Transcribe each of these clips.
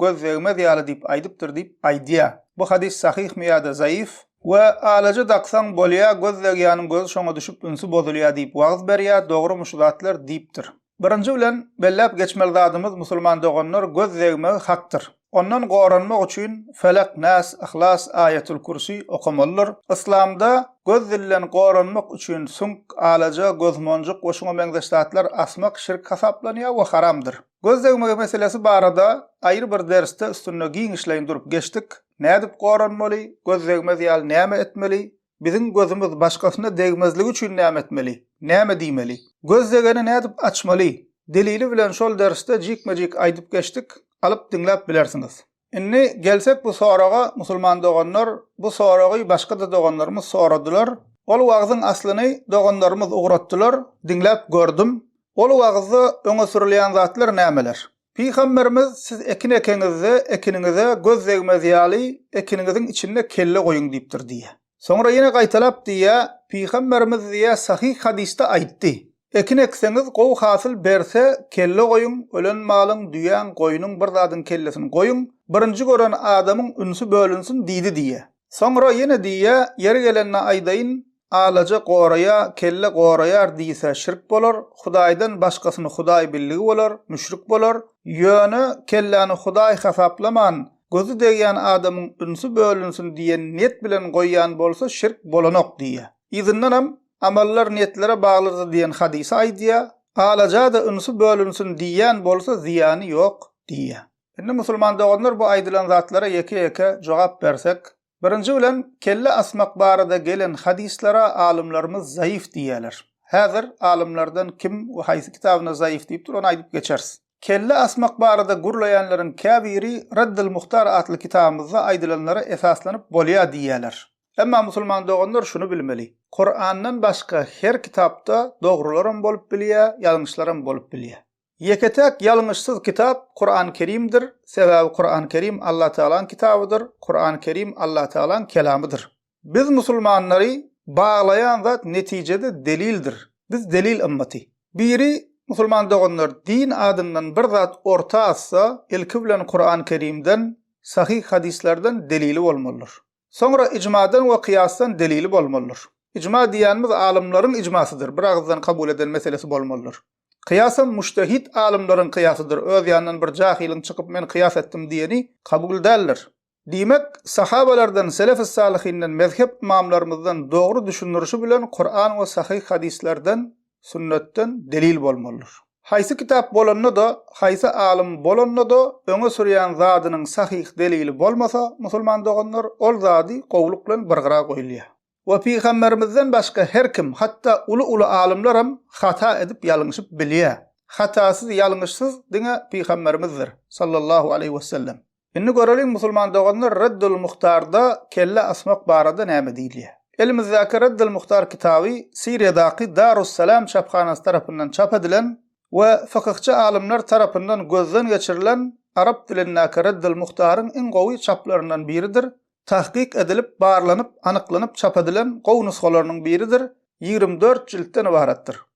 göz degmez ýaly diýip aýdypdyr diýip aýdýar. Bu hadys sahyhmy ýa-da zaýyf? We alaja daksaň bolýar, göz degýäniň gözi şoňa düşüp ünsi bozulýar diýip wagyz berýär, dogrymy şu zatlar? diýipdir. Birinji bilen, belläp geçmeli zadymyz musulman doganlar göz degmegi hakdyr. Ondan goranmak üçin Felak, Nas, Yhlas, Aýatul Kürsi okamalydyr. Yslamda göz dilden goranmak üçin süňk, alaja, gözmonjuk we şuňa meňzeş zatlar asmak şirk hasaplanýar we haramdyr. Göz degmegi meselesi barada aýry bir dersde üstünde giňişleýin durup geçdik. Nädip goranmaly, göz degmez ýaly näme etmeli, biziň gözümiz başgasyna degmezligi üçin näme etmeli, näme diýmeli, göz degeni nädip açmaly, delili bilen şol dersde jikme-jik aýdyp geçdik, alyp diňläp bilersiňiz. Indi gelsek bu soraga musulman doganlar, bu soragy başga-da doganlarymyz soradylar. Ol wagzyň aslyny doganlarymyz ugratdylar, diňläp gördüm. Ol wagzda öňe sürülýän zatlar nämeler? Pygamberimiz siz ekin ekeňizde ekiniňize göz degmez ýaly ekiniňiziň içinde kelle goýuň diýipdir diýýär. Soňra ýene gaýtalap diýýär, Pygamberimiz diýýär sahyh hadysda aýtdy, Ekin ekseňiz, gowy hasyl berse, kelle goýuň, ölen malyň, düýäň, goýnuň bir zadyň kellesini goýuň, birinji gören adamyň ünsi bölünsin diýdi diýýär. Soňra ýene diýýär, Ýeri gelende aýdaýyn, Alaja goraýa, kelle goraýar diýse şirk bolar, Hudaýdan başgasyny Hudaý billigi bolar, müşrik bolar, ýöne kelläni Hudaý hasaplaman, Gözi degýän adamyň ünsi bölünsin diýen niýet bilen goýýan bolsa şirk bolanok diýýär. Yzyndanam Amallar niýetlere baglydyr diýen hadysy aýdýar, Alaja-da ünsi bölünsin diýýän bolsa zyýany ýok diýýär. Indi musulman doganlar bu aýdylan zatlara ýeke-ýeke jogap bersek, Birinji bilen, kelle asmak barada gelen hadyslara alymlarymyz zaýyf diýýärler. Häzir alymlardan kim we haýsy kitabynda zaýyf diýipdir, ony aýdyp geçeris. Kelle asmak barada gürleýänleriň käbiri Raddul Muhtar atly kitabymyzda aýdylanlara esaslanyp bolýar diýýärler. Emma musulman doganlar şuny bilmeli, Kurandan başga her kitapda dogrular hem bolup bilýär, ýalňyşlar hem bolup bilýär. Ýeke-täk ýalňyşsyz kitap Kuran Kerimdir, sebäbi Kuran Kerim Allah Tagalaň kitabydyr, Kuran Kerim Allah Tagalaň kelamydyr. Biz musulmanlary baglaýan zat netijede delildir. Biz delil ymmaty. Biri musulman doganlar din adyndan bir zat orta atsa ilki bilen Kuran Kerimden, sahyh hadyslardan delili bolmalydyr. Soňra ijmadan we kyýasdan delili bolmalydyr. Ijma diýýänimiz alymlaryň ijmasydyr, bir agyzdan kabul eden meselesi bolmalydyr. Kyýasam mujtehit alymlaryň kyýasydyr, öz ýanyndan bir jahylyň çykyp men kyýas etdim diýeni kabul däldir. Diýmek, sahabalardan, selef-i-salyhinden, mezhep ymamlarymyzdan dogry düşündirişi bilen Kuran we sahyh hadyslardan sünnetden delil bolmalydyr. Haýsy kitap bolanda-da, haýsy alym bolanda-da öňe sürýän zadynyň sahyh delili bolmasa, musulman doganlar, ol zady gowluk bilen bir gyra goýulýar. We pygamberimizden başga her kim, hatda uly-uly alymlar hem hata edip ýalňyşyp bilýär. Hatasyz, ýalňyşsyz diňe pygamberimizdir, sallallahu aleýhi wesellem. Indi göreliň musulman doganlar Reddül Muhtarda kelle asmak barada näme diýilýär. Elimizdäki Reddül Muhtar kitaby Siriýadaky Darus Salam çaphanasy tarapyndan çap edilen we fykyhçy alymlar tarapyndan gözden geçirilen arap dilindäki Reddül Muhtaryň iň gowy çaplaryndan biridir, tahkyk edilip, barlanyp, anyklanyp çap edilen gowy nusgalarynyň biridir, ýigrimi dört jiltden ybaratdyr.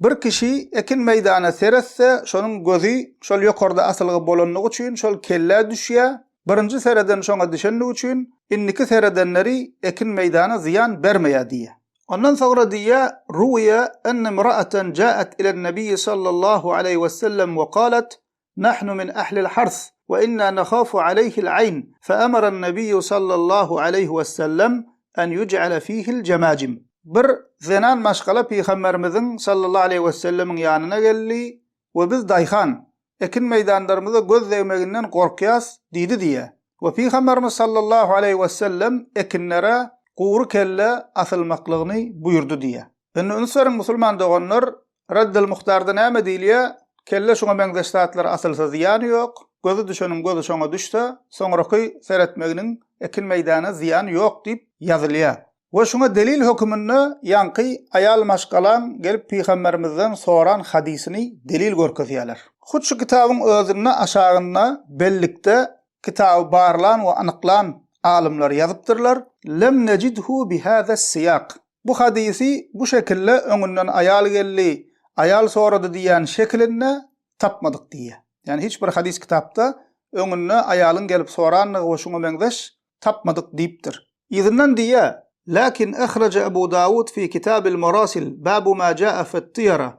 Bir kişi ekin meýdana seretse, şonuň gözi şol ýokarda asylgy bolanlygy üçin şol kellä düşýär, birinji sereden şoňa düşenligi üçin indiki seredenleri ekin meýdana zyýan bermeýär diýýär. Ondan soňra diýýär, Ruwiýa enne mraatan jaat ilen-Nebiyyi sallallahu aleýhi wesellem we galat, Nahnu min ahlil hars we inna nahafu aleýhil aýn, fe amaran nebiyyu sallallahu aleýhi we sellem en ýuc'ale fihil jemajim. Bir zenan maşgala Pygamberimiziň sallallahu aleýhi we sellemiň ýanyna geldi we biz daýhan, ekin meýdanlarymyza göz degmeginden gorkýas diýdi diýýär. We Pygamberimiz sallallahu aleýhi we sellem ekinlere gury kelle asylmaklygyny buýurdy diýýär. Indi üns beriň musulman doganlar, Reddel muhtarda näme diýilýä? Kelle şuňa meňzeş zatlar asylsa zyýany ýok, gözi düşeniň gözi şoňa düşse, soňraky seretmeginiň ekin meýdana zyýany ýok diýip ýazylýa. We şuňa delil höküminde ýaňky aýal maşgalaň gelip pygamberimizden soran hadysyny delil görkezýäler. Hut şu kitabyň özünde aşagynda bellikde kitaby barlan we anyklan alymlar ýazypdyrlar, Lem nejidhu bi hada syýak. Bu hadysy bu şekilde öňünden aýal geldi, aýal sorady diýýän şekilinde tapmadyk diýýär. Ýagny hiç bir hadys kitapda öňünde aýalyň gelip sorandygy we şuňa meňzeş tapmadyk diýipdir. Yzyndan diýýär, Läkin ahraja Abu Dawud fi kitabil marasil babu ma jaa fit-tyýara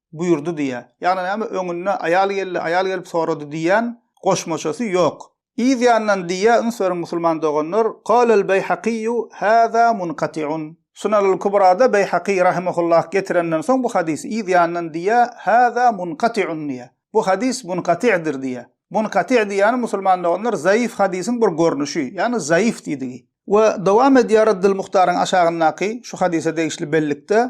buýurdy diýýär. Ýagny näme, öňünde aýal geldi, aýal gelip sorady diýýän goşmaçasy ýok. Yz ýandan diýýär, üns beriň musulman doganlar, Qalal Beýhakyýu, Hâzâ munqati'un. Sunanul Kubrada Beýhakyý rahimehullah getirenden soň bu hadysy yz ýandan diýýär, Hâzâ munqati'un diýýär. Bu hadys munqati'dir diýýär. Munqati' diýýäni musulman doganlar zaif hadysyň bir görnüşi, ýagny zaif diýdigi. We dowam edýär Raddul Muhtaryň aşagyndaky şu hadysa degişli bellikde,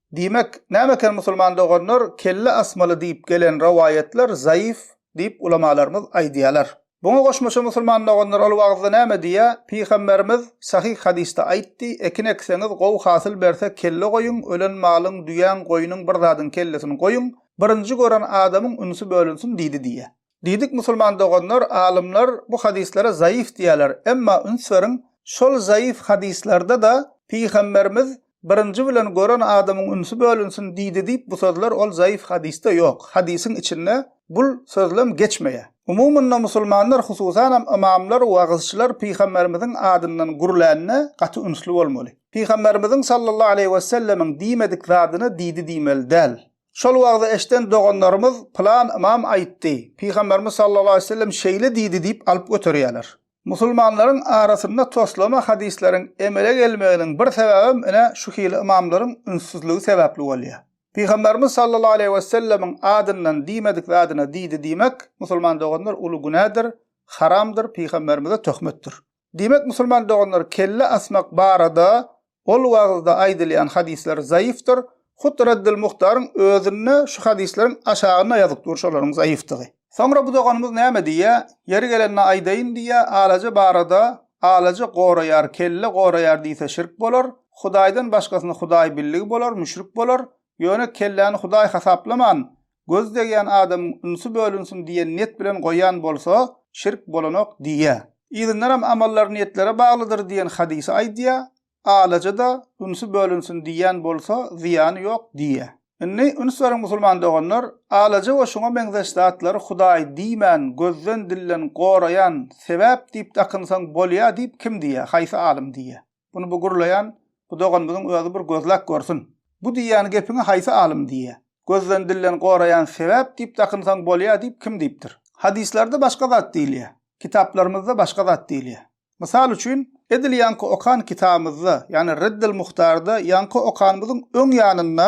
Diýmek, näme eken musulman doganlar, kelle asmaly diýip gelen rowaýatlar zaýyf diýip ulamalarymyz aýdýalar. Buňa goşmaça musulman doganlar ol wagyzda näme diýýär, Pygamberimiz sahyh hadysda aýtdy, ekin ekseňiz gowy hasyl berse kelle goýuň, ölen malyň, düýäň, goýnuň bir zadyň kellesini goýuň, birinji gören adamyň ünsi bölünsin diýdi diýýär. Diýdik musulman doganlar, alymlar bu hadyslara zaýyf diýýärler, emma üns beriň, şol zaýyf hadyslarda-da Pygamberimiz Birinji bilen gören adamyň ünsi bölünsin diýdi diýip bu sözler ol zaýyf hadysda ýok, hadysyň içinde bul sözlem geçmeýär. Umumynda musulmanlar hususanam ymamlar, wagyzçylar Pygamberimiziň adyndan gürlände gaty ünsli bolmaly. Pygamberimiziň sallallahu aleýhi wesellemiň diýmedik zadyna diýdi diýmeli däl. Şol wagzy eşden doganlarymyz Pylan ymam aýtdy, Pygamberimiz sallallahu aleýhi we sellem şeýle diýdi diýip alyp göterýärler. Musulmanlaryň arasynda toslama hadyslaryň emele gelmeginiň bir sebäbem ine şu hili ymamlaryň ünssüzligi sebäpli bolýar. Pygamberimiz sallallahu aleýhi we sellemiň adyndan diýmedik zadyna diýdi diýmek, musulman doganlar, uly günädir, haramdyr, pygamberimize töhmetdir. Diýmek musulman doganlar kelle asmak barada ol wagyzda aýdylýan hadyslar zaýyfdyr, hut Raddul Muhtaryň özünde şu hadyslaryň aşagynda ýazyp dur şolaryň zaýyfdygy. Soňra bu doganymyz näme diýýär, ýeri gelende aýdaýyn diýýär, alaja barada, alaja goraýar, kelle goraýar diýse şirk bolar, Hudaýdan başgasyny Hudaý billigi bolar, müşrik bolar, ýöne kelläni Hudaý hasaplaman, göz degýän adamyň ünsü bölünsin diýen niýet bilen goýan bolsa, şirk bolanok diýýär. Yzyndanam amallar niýetlere baglydyr diýen hadysy aýdýar, alaja-da ünsü bölünsin diýýän bolsa, zyýany ýok diýýär. Indi üns beriň musulman doganlar, alaja we şuňa meňzeş zatlary Hudaý diýmän, gözden-dilden goraýan sebäp diýip dakynsaň bolýar diýip kim diýýär, haýsy alym diýýär? Bunu bu gürleýän bu doganymyzyň özi bir gözläp görsün. Bu diýýän gepiňi haýsy alym diýýä? Gözden dilden goraýan sebäp diýip dakynsaň bolýa diýip kim diýipdir? Hadyslarda başga zat diýilýä. Kitaplarymyzda başga zat diýilýä. Mysal üçin, edil ýaňky okan kitabymyzda, ýagny Reddel Muhtarda ýaňky okanymyzyň öň ýanynda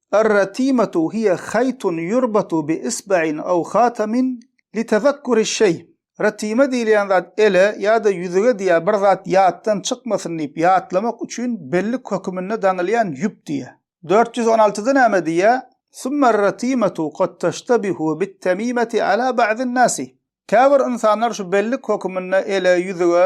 Ar-ratimatu hiýe haýtun ýurbatu bi isbain aw hatamin li tazakkuri şeý. Ratima diýilýän zat ele ýa-da ýüzüge diýýär bir zat ýatdan çykmasyn diýip ýatlamak üçin bellik höküminde daňylýan ýüp diýýär. Dört ýüz on altyda näme diýýär, Summer-ratimatu kad taştabihu bit-tamimati ala ba'din-nasi. Käbir ynsanlar şu bellik höküminde ele, ýüzüge,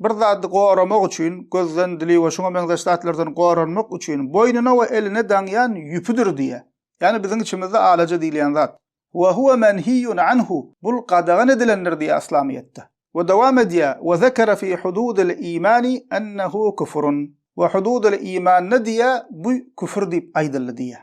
Bir zady goramak üçin, gözden, dili we şuňa meňzeş zatlardan goranmak üçin boýnuna we eline daňýan ýüpüdir diýýär. Ýagny biziň içimizde alaja diýilýän zat. Wa huwa menhiyyun anhu, bul gadagan edilendir diýýär yslamyýetde. We dowam edýär, Wa zekere fi hududil imani ennehu kufrun, we hududil imanda diýýär, bu küfür diýip aýdyldy diýýär.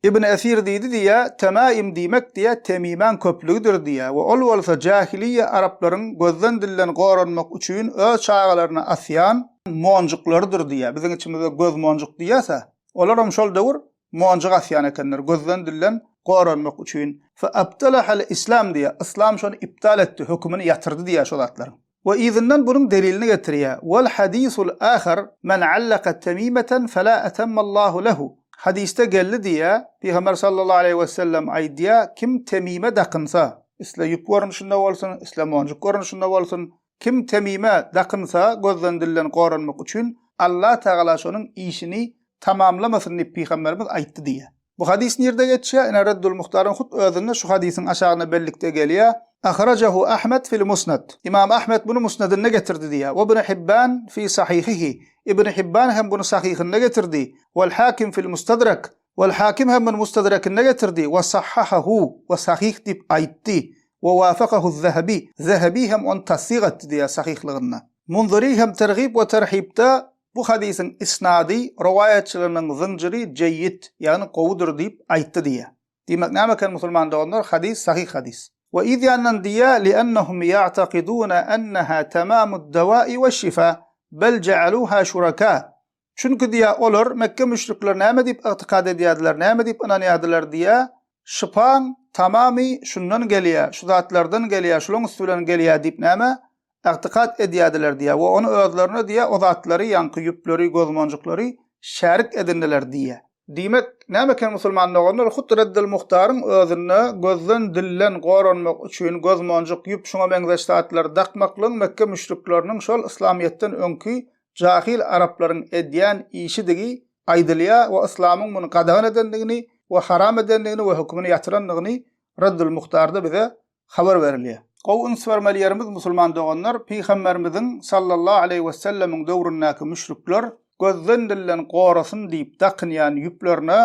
Ibn Esir diýdi diýýä, Temaim diýmek diýýä temimäň köplügidir diýýä we ol bolsa jahiliýe araplaryň gözden dilden goranmak üçin öz çagalaryna asýan monjuklarydyr diýýä. Biziň içimizde göz monjuk diýýäs-ä. Olaram şol döwür monjuk asýan ekenler gözden dilden goranmak üçin. Fe abtalahal islam diýýä, yslam şony iptal etdi, hökümini ýatyrdy diýýä şo zatlaryň. We yzyndan bunuň delilini getirýär, Wal hadisul ahar, Men allaka temimeten fela etemmallahu lehu, Hadysda geldi diýýär, Pygamber sallallahu aleýhi wesellem aýdýar, Kim temime dakynsa, isle ýüp görnüşinde bolsun, isle monjuk görnüşinde bolsun, kim temime dakynsa, gözden-dilden goranmak üçin, Allah tagala şonuň işini tamamlamasyn diýip Pygamberimiz aýtdy diýýär. Bu hadys nirde geçýär? Ine Reddul Muhtaryň hut özünde şu hadysyň aşagyna bellikde gelýär. Ahrajahu Ahmed fil Musnad. Imam Ahmed buny Musnedinde getirdi diýýär. We Ibn Hibban fi Sahihihi. Ibn Hibban hem buny Sahyhynda getirdi. Wal Hakim fil Mustadrak. Wal Hakim hem muny Mustadrakynda getirdi. We sahhahahu. We sahyh diýip aýtdy. We wafakahu Zahabi. Zahabi hem ony tassyk etdi diýýär sahyhlygyna. Munziri hem Tergib we Terhibda Bu hadysyň isnady, rowaýatçylarynyň zynjyry jeýýid, ýagny gowudyr diýip aýtdy diýýär. Diýmek, näme eken musulman doganlar, hadys sahyh hadys. We yz ýandan diýýär, Li'ennehum ya'takiduna enneha tamamud dawa'i we'ş-şifa, bel ja'aluha şuraka. Çünki diýýär, olar, Mekge müşrikleri näme diýip ygtykad edýärdiler, näme diýip ynanýardylar diýýär, Şypaň tamamy şundan gelýär, şu zatlardan gelýär, şulaň üsti bilen gelýär diýip näme, ygtykat edýärdiler diýýär we ony özlerine diýýär, o zatlary, ýaňky ýüpleri, gözmonjuklary şärik edindiler diýýär. Diýmek, näme eken musulman doganlar, hut Reddül Muhtaryň özünde gözden, dilden goranmak üçin gözmonjuk, ýüp, şuňa meňzeş zatlary dakmaklygyň Mekge müşrikleriniň şol yslamyýetden öňki jahyl araplaryň edýän işidigi aýdylýar we yslamyň muny gadagan edendigini we haram edendigini we hökümini ýatyrandygyny Raddul Muhtarda bize habar berilýär. Gowy üns bermeli ýerimiz musulman doganlar Pygamberimiziň sallallahu aleýhi wesellemiň döwründäki müşrikler gözden dilden gorasyn diýip dakynýan ýüplerine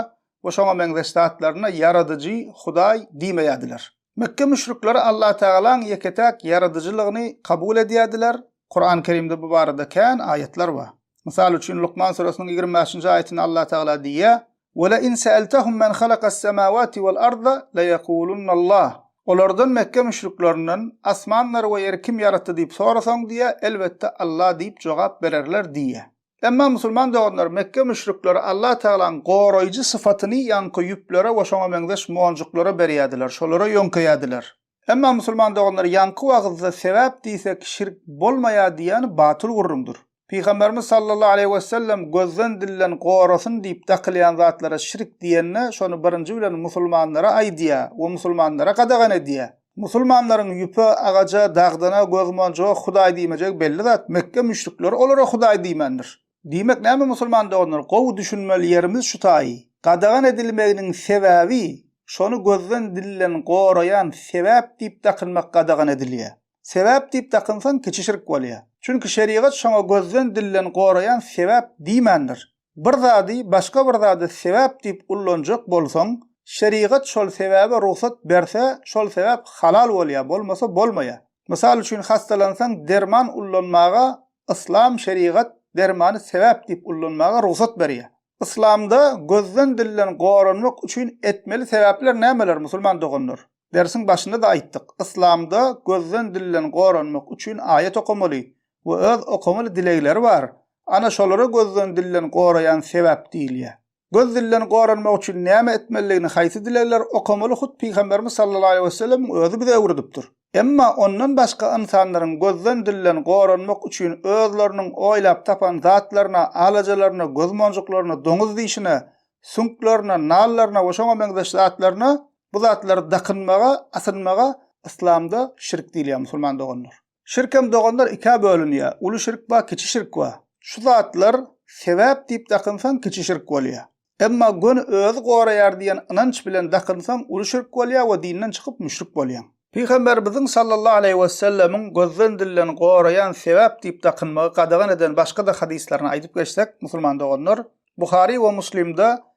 we şoňa meňzeş zatlaryna Ýaradyjy, Hudaý, diýmeýärdiler. Mekge müşrikleri Allatagalaň ýeke-täk Ýaradyjylygyny kabul edýärdiler. Kurany Kerimde bu barada kän aýatlar bar. Mysal üçin, Lukman suresiniň ýigrimi bäşinji aýatynda Allatagala diýýär, Welein seeltehum men halakas semawati wal arda leýekulunallah, Olardan, Mekge müşriklerinden, asmanlary we ýeri kim ýaratdy diýip sorasaň diýýär, elbetde, Alla diýip jogap bererler diýýär. Emma musulman doganlar Mekge müşrikleri Allah Tagalaň goraýjy sypatyny ýaňky ýüplere we şoňa meňzeş monjuklara berýärdiler, şolara ýöňkeýärdiler. Emma musulman doganlar ýaňky wagyzda sebäp diýsek şirk bolmaýar diýýäni batyl gürrüňdir. Pygamberimiz sallallahu aleýhi wesellem gözden dilden gorasyn diýip dakylýan zatlara şirk diýende şony birinji bilen musulmanlara aýdýar we musulmanlara gadagan edýär. Musulmanlaryň ýüpe, agaja, dagdana göz yuman joh hudaý diýmejegi belli zat, Mekge müşrikleri olara hudaý diýmändir. Diýmek näme musulman doganlar, gowy düşünmeli ýerimiz şu taýy, gadagan edilmeginiň sebäbi şony gözden dilden goraýan sebäp diýip dakynmak gadagan edilýä. Sebäp diýip dakynsaň kiçi şirk bolýa. Çünki şerigat şoňa gözden dilden goraýan sebäp diýmändir. Bir zady başga bir zada sebäp diýip ullanjak bolsaň, şerigat şol sebäbe rugsat berse, şol sebäp halal bolýar, bolmasa bolmaýar. Mysal üçin hastalansaň derman ullanmaga Yslam şerigat dermany sebäp diýip ullanmaga rugsat berýär. Yslamda gözden dilden goranmak üçin etmeli sebäpler nämeler musulman doganlar? Dersiň başynda-da aýtdyk, Yslamda gözden dilden goranmak üçin aýat okamaly, we öz okamaly dilegleri bar, ana şolary gözden dilden goraýan sebäp diýilýär. Göz dilden goranmak üçin näme etmelidigini haýsy dilegler okamaly hut Pygamberimiz sallallahu aleýhi wesellemiň özi bize öwredipdir. Emma ondan başga ynsanlaryň gözden dilden goranmak üçin özleriniň oýlap tapan zatlaryna, alajalaryna, göz monjuklaryna, doňuz dişine, süňklerine, nallaryna we şoňa meňzeş zatlaryna, bu zatlary dakynmaga, asynmaga Yslamda şirk diýilýär musulman doganlar. Şirk hem doganlar ikä bölünýä. Uly şirk bar, kiçi şirk bar. Şu zatlar sebäp diýip dakynsaň kiçi şirk bolýa. Emma göni özi goraýar diýen ynanç bilen dakynsaň uly şirk bolýa we dinden çykyp müşrik bolýaň. Pygamberimiziň sallallahu aleýhi wesellemiň gözden dilden goraýan sebäp diýip dakynmagy gadagan eden başga-da hadyslaryny aýdyp geçsek, musulman doganlar, Buhary we Muslimde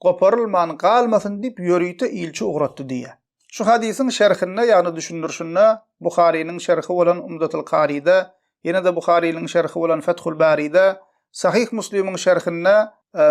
goparylman galmasyn diýip ýörite ilçi ugratdy diýýär. Şu hadysyň şerhinde, ýagny düşündirişinde, Buharynyň şerhi bolan Umdatul Karyda, ýene-de Buharynyň şerhi bolan Fethul Baryda, Sahyh Muslimiň şerhinde,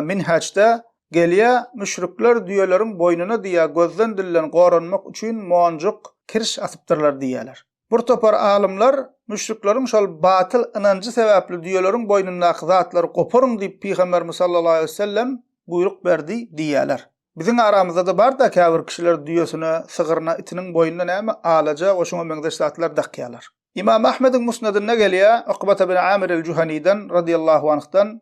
Minhajda, gelýär, müşrikler düýeleriň boýnuna diýýär, gözden-dilden goranmak üçin monjuk, kirş asypdyrlar diýýärler. Bir topar alymlar, Müşrikleriň şol batyl ynanjy sebäpli düýeleriň boýnundaky zatlary goparyň diýip Pygamberimiz sallallahu aleýhi wesellem buýruk berdi diýýärler. Biziň aramyzda-da bar-da käbir kişiler düýesine, sygyryna, itiniň boýnuna näme, alaja we şuňa meňzeş zatlar dakýarlar. Ymam Ahmediň Musnedinde gelýär, Ukbata bin Amir el-Juhaniden, radiyallahu anhdan,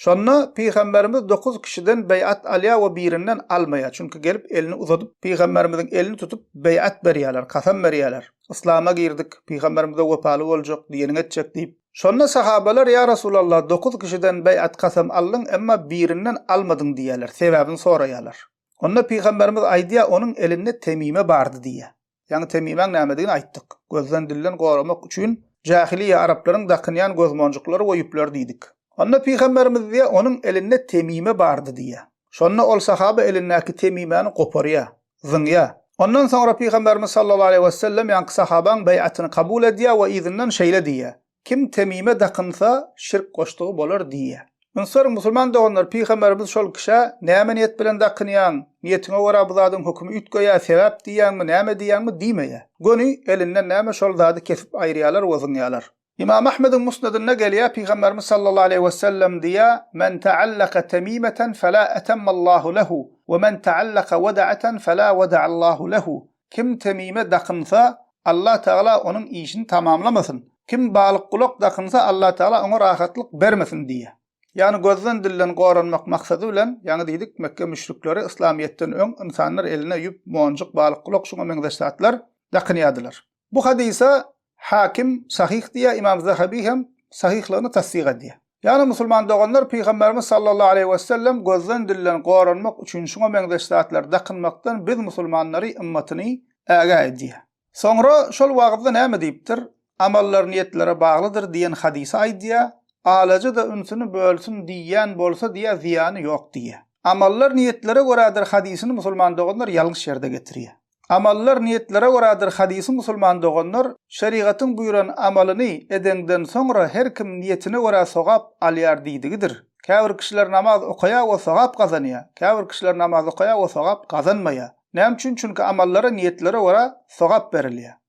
Şonda Pygamberimiz dokuz kişiden beýat alýar we birinden almaýar. Çünki gelip elini uzadyp, Pygamberimiziň elini tutup beýat berýärler, kasam berýärler. Yslama girdik, Pygamberimize wepaly boljak, diýeniňi etjek diýip. Şonda sahabalar, Ýa Resulallah, dokuz kişiden beýat, kasam, aldyň, emma birinden almadyň diýýärler, sebäbini soraýarlar. Onda Pygamberimiz aýdýar, Onuň elinde temime bardy diýýär. Ýaňy temimaň nämedigini aýtdyk. Gözden dilden goramak üçin jahiliýe araplaryň dakynýan gözmonjuklary we ýüpleri diýdik. Onda pygamberimiz diýýär, onuň elinde temime bardy diýýär. Şonda ol sahaba elindäki temimäni goparýar, zyňýar. Ondan soňra pygamberimiz sallallahu aleýhi wesellem ýaňky sahabaň beýatyny kabul edýär we yzyndan şeýle diýýär, Kim temime dakynsa, şirk goşdugy bolar diýýär. Ony soraň, musulman doganlar, pygamberimiz şol kişä, Näme niýet bilen dakynýaň? Niýetiňe görä bu zadyň hökümi üýtgeýär, sebäp diýýäňmi, näme diýýäňmi? diýmeýär. Göni elinden näme şol zady kesip aýyrýarlar we zyňýarlar. Ymam Ahmediň Musnedinde gelýär, pygamberimiz sallallahu aleýhi wesellem diýýär, Men ta'allaka temimeten fela etemmallahu lehu, we men ta'allaka weda'atan fela weda'allahu lehu. Kim temime dakynsa, Allatagala onuň işini tamamlamasyn. Kim balykgulak dakynsa, Allatagala oňa rahatlyk bermesin diýýär. Ýagny gözden-dilden goranmak maksady bilen, ýaňy diýdik, Mekge müşrikleri yslamyýetden öň ynsanlar eline ýüp, monjuk, balykgulak, şuňa meňzeş zatlar dakynýardylar. Bu hadysa Hakim sahyh diýýär, Ymam Zahabi hem sahyhlygyny tassyk edýär. Ýagny musulman doganlar Pygamberimiz sallallahu aleýhi wesellem gözden dilden goranmak üçin şuňa meňzeş zatlary dakynmakdan biz musulmanlary ymmatyny ägä edýär. Soňra şol wagyzda näme diýipdir, Amallar niýetlere baglydyr diýen hadysy aýdýar, Alaja-da ünsüni bölsün diýýän bolsa diýýär zyýany ýok diýýär. Amallar niýetlere görädir hadysyny musulman doganlar ýalňyş ýerde getirýär. Amallar niýetlere görädir Hadysyň Musulman doganlar şerigatyň buýran amalyny edenden soňra her kim niýetine görä sogap alýar diýdigidir. Käbir kişiler namaz okaýar we sogap gazanýar. Käbir kişiler namaz okaýar we sogap gazanmaýar. Näme üçin? Çünki amallara niýetlere görä sogap berilýär.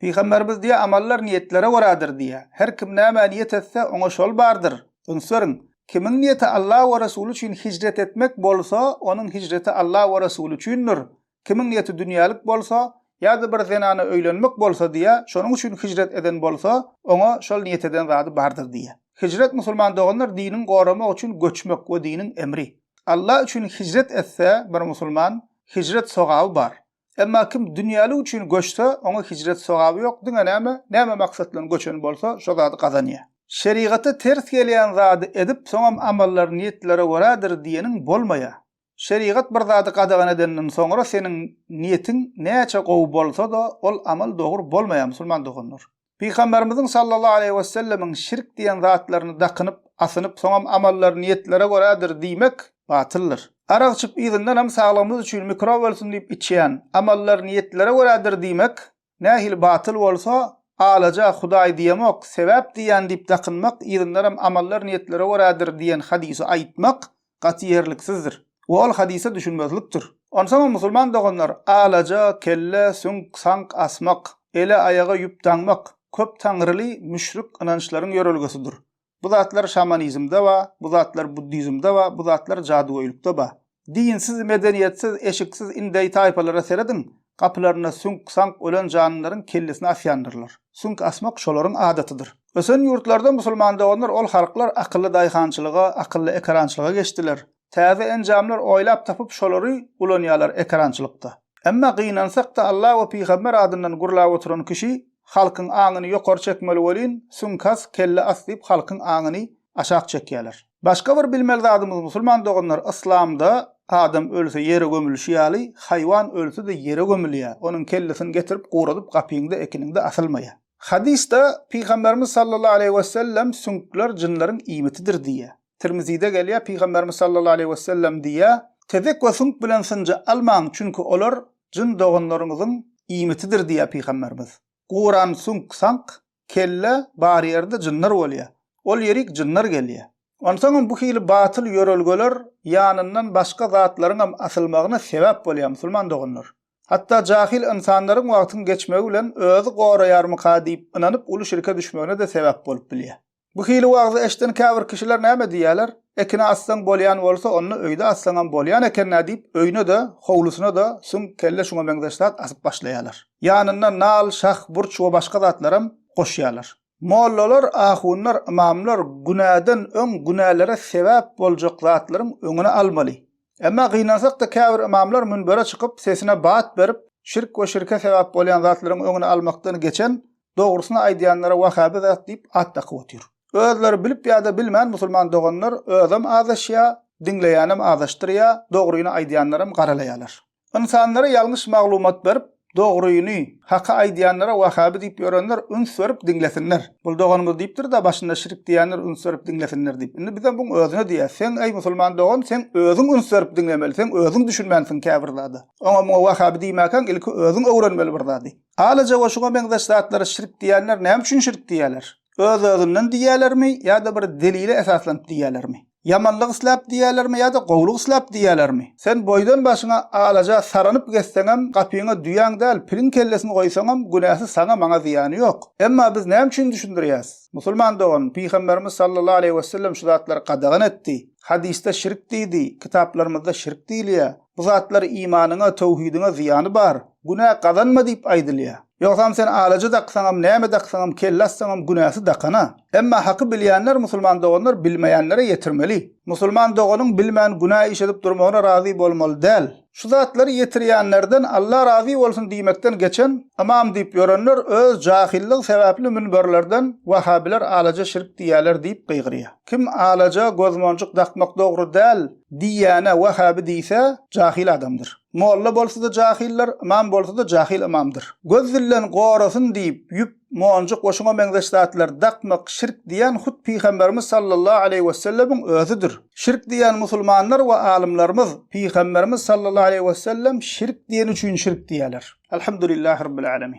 Pygamberimiz diýýär, Amallar niýetlere görädir diýýär. Her kim nämä niýet etse, oňa şol bardyr. Üns beriň! Kimiň niýeti Alla we Resuly üçin hijret etmek bolsa, onuň hijreti Alla we Resuly üçindir. Kimiň niýeti dünýälik bolsa, ýa-da bir zenana öýlenmek bolsa diýýär, şonuň üçin hijret eden bolsa, oňa şol niýet eden zady bardyr diýýär. Hijret musulman doganlar dinini goramak üçin göçmek we diniň emri. Alla üçin hijret etse bir musulman, hijret sogaby bar. Emma kim dünýälik üçin göçse, oňa hijret sogaby ýok, diňe näme, näme maksat bilen göçen bolsa, şo zady gazanýar. Şerigata ters gelýän zady edip, soňam amallar niýetlere görädir diýeniň bolmaýar. Şerigat bir zady gadagan edenden soňra seniň niýetiň näçe gowy bolsa-da, ol amal dogry bolmaýar, musulman doganlar. Pygamberimiziň sallallahu aleýhi wesellemiň şirk diýen zatlaryny dakynyp, asynyp, soňam amallary niýetlere görädir diýmek batyldyr. Arak içip yzyndanam saglygymyz üçin mikrob ölsün diýip içýän, amallary niýetlere görädir diýmek nähili batyl bolsa, alaja, Hudaý diýemok, sebäp diýýän diýip dakynmak, yzyndanam amallary niýetlere görädir diýen hadysy aýtmak gaty ýerliksizdir we ol hadysa düşünmezlikdir. Onsoňam musulman doganlar alaja, kelle, süňk, sank asmak, ele, aýaga ýüp daňmak köp taňryly müşrik ynançlaryň ýörelgesidir. Bu zatlar şamanizmde ba, bu zatlar buddizmde ba, bu zatlar jadygöýlükde ba. Dinsiz, medeniýetsiz, eşiksiz indeý taýpalara serediň, Gapylarynda süňk-saňk ölen janlylaryň kellesini asýandyrlar. Süňk asmak şolaryň adatydyr. Ösen ýurtlarda musulman doganlar ol halklar akylly daýhançylyga, akylly ekerançylyga geçdiler. Täze enjamlar oýlap tapyp şolary ulanýarlar ekerançylykda. Emma gynansak-da Alla we pygamber adyndan gurlap oturan kişi halkyň aňyny ýokary çekmeli welin süňk as, kelle as diýip halkyň aňyny aşak çekýärler. Başga bir bilmeli zadymyz musulman doganlar yslamda adam ölse ýere gömülişi ýaly haýwan ölsede ýere gömülýär onuň kellesini getirip guradyp gapyňda ekiniňde asylmaýar. Hadysda pygamberimiz sallallahu aleýhi wesellem süňkler jynlaryň iýmitidir diýýär. Tirmizide gelýär pygamberimiz sallallahu aleýhi wesellem diýýär tezek we süňk bilen synja almaň çünki olar jyn doganlaryňyzyň iýmitidir diýýär pygamberimiz. Guran suňk saňk, kelle, bar ýerde jynlar bolýa. Ol ýerik jynlar gelýä. Onsaňam bu hili batyl ýörelgeler ýanyndan başga zatlaryňam asylmagyna sebäp bolýa musulman doganlar. Hatda jahyl ynsanlaryň wagtyň geçmegi bilen özi goraýarmyka diýip ynanyp uly şirke düşmegine-de sebäp bolup bilýä. Bu hili wagyzy eşden käbir kişiler näme diýýäler, Ekine assaň bolýan bolsa, onda öýde assaňam bolýan eken-dä diýip, öýüne-de, howlusyna-da süňk, kelle şuňa meňzeş zat asyp başlaýarlar. Ýanyna nal, şah, burç we başga zatlaram goşýarlar. Mollalar, ahunlar, ymamlar günäden öň günälere sebäp boljak zatlaryň öňüni almaly. Emma gynansak-da käbir ymamlar münbere çykyp, sesine bat berip, şirk we şirke sebäp bolýan zatlaryň öňüni almakdan geçen, Dogrusyny aýdýanlara wahhabi zat diýip at dakyp otyr. Özleri bilip ýa-da bilmän musulman doganlar özem azaşýa, diňleýänem azaşdyrýa, dogryny aýdýanlaram garalaýalar. Ynsanlara ýalňyş maglumat berip, dogryny, haky aýdýanlara wahhabi diýip ýörenler üns berip diňlesinler. Bul doganymyz diýipdir-da başynda şirik diýýänler üns berip diňlesinler diýip. Indi bizem buň özüne diýýäs. Seň eý musulman dogan, seň özüň üns berip diňlemeli, seň özüň düşünmänsiň käbir zada. Oňa-muňa wahhabi diýmäkäň ilki özüň öwrenmeli bir zady. Alaja we şuňa meňzeş zatlara şirk diýýänler näme üçin şirk diýýärler? Öz-özünden diýýärlermi ýa-da bir delile esaslanyp diýýärlermi? Ýamanlyk isläp diýýärlermi ýa-da gowulyk isläp diýýärlermi? Sen boýdan başyňa alaja saranyp gezseňem, gapyňa düýäň däl, piliň kellesini goýsaňam, günäsi saňa, maňa zyýany ýok. Emma biz näme üçin düşündirýäs? Musulman dogan, Pygamberimiz sallallahu aleýhi wesellem şu zatlary gadagan etdi. Hadysda şirk diýdi, kitaplarymyzda şirk diýilýär. Bu zatlar imanyňa, töwhidiňe zyýany bar. Günä gazanma diýip aýdylýar. Ýogsam sen alaja daksaňam, näme daksaňam, kelle assaňam günäsi dakana. Emma haky bilýänler musulman doganlar bilmeýänlere ýetirmeli. Musulman doganyň bilmän günä iş edip durmagyna razy bolmaly däl. Şu zatlary ýetirýänlerden Alla razy bolsun diýmekden geçen, ymam diýip ýörenler öz jahyllygy sebäpli münberlerden Wahhabiler alaja şirk diýýärler diýip gygyrýar. Kim alaja, gözmonjuk dakmak dogry däl, Diýýäne Wahhaby diýse jahyl adamdyr. Molla bolsada jahyldyr, ymam bolsada jahyl ymamdyr. Göz dilden gorasyn diýip ýüp, monjuk we şuňa meňzeş zatlary dakmak şirk diýýän hut Pygamberimiz sallallahu aleýhi wesellemiň özüdir. Şirk diýýän musulmanlar we alymlarymyz Pygamberimiz sallallahu aleýhi wesellem şirk diýeni üçin şirk diýýäler. Alhamdulillahirabbilalamyn.